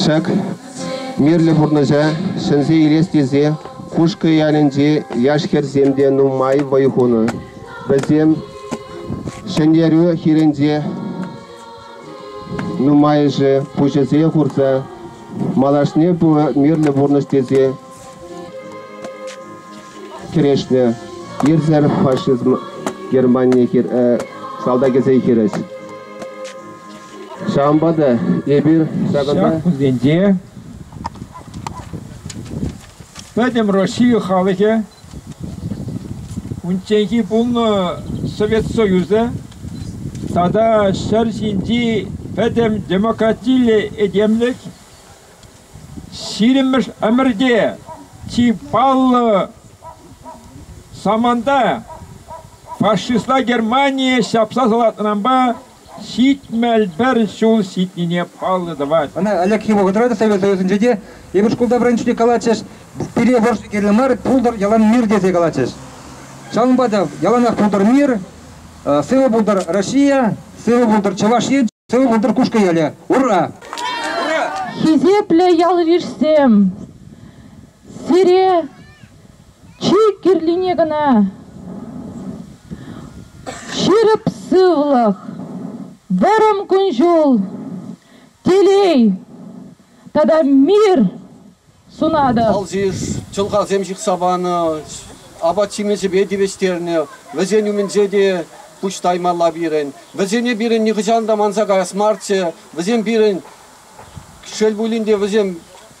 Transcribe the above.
Ҫак мирлӗ пурнӑҫа ҫӗнсе илес тесе Кушкӑ ялӗнчи яш хӗрсем те нумай вӑй хунӑ. Вӗсем Ҫӗнтерӳ хирӗнче нумайӑшӗ пуҫӗсене хурса малашне ку мирлӗ пурнӑҫ тесе кӗрешнӗ. Ирсер фашизм Германи хир, э, салтакӗсен хирӗҫ. Ҫавӑнпа та эпир ҫакӑнта... Ҫак кунсенче Пӗтӗм Россия халӑхӗ унчченхи пулнӑ Совет Союзӗ тата ҫӗр ҫинчи пӗтӗм демократиллӗ этемлӗх ҫирӗммӗш ӗмӗрте чи паллӑ саманта фашистла Германие ҫапса салатнӑранпа Ҫитмӗл пӗр ҫул ҫитнине паллӑ тӑвать. Ӑна ӗлӗкхи вӑхӑтра та Совет Союзӗнче те эпир шкулта вӗренчӳне калатчӗҫ, пире вӑрҫӑ кирлӗ мар, пултӑр ялан мир тесе калатчӗҫ. Ҫавӑнпа та яланах пултӑр мир, сывӑ пултӑр Россия, сывӑ пултӑр Чӑваш Ен, сывӑ пултӑр Кушкӑ ялӗ. Ура! Ура! Хисеплӗ ялйышсем! Сире чи кирлине кӑна ҫирӗп сывлӑх, вӑрӑм кун-ҫул, телей тата мир сунатӑп. Алҫи чӑлхасем ҫыхса панӑ, апат-ҫимӗҫӗпе тивӗҫтернӗ. Вӗсен умӗнче те пуҫ таймалла пирӗн. Вӗсене пирӗн нихӑҫан та манса каяс марччӗ. Вӗсем пирӗн, шел пулин те, вӗсем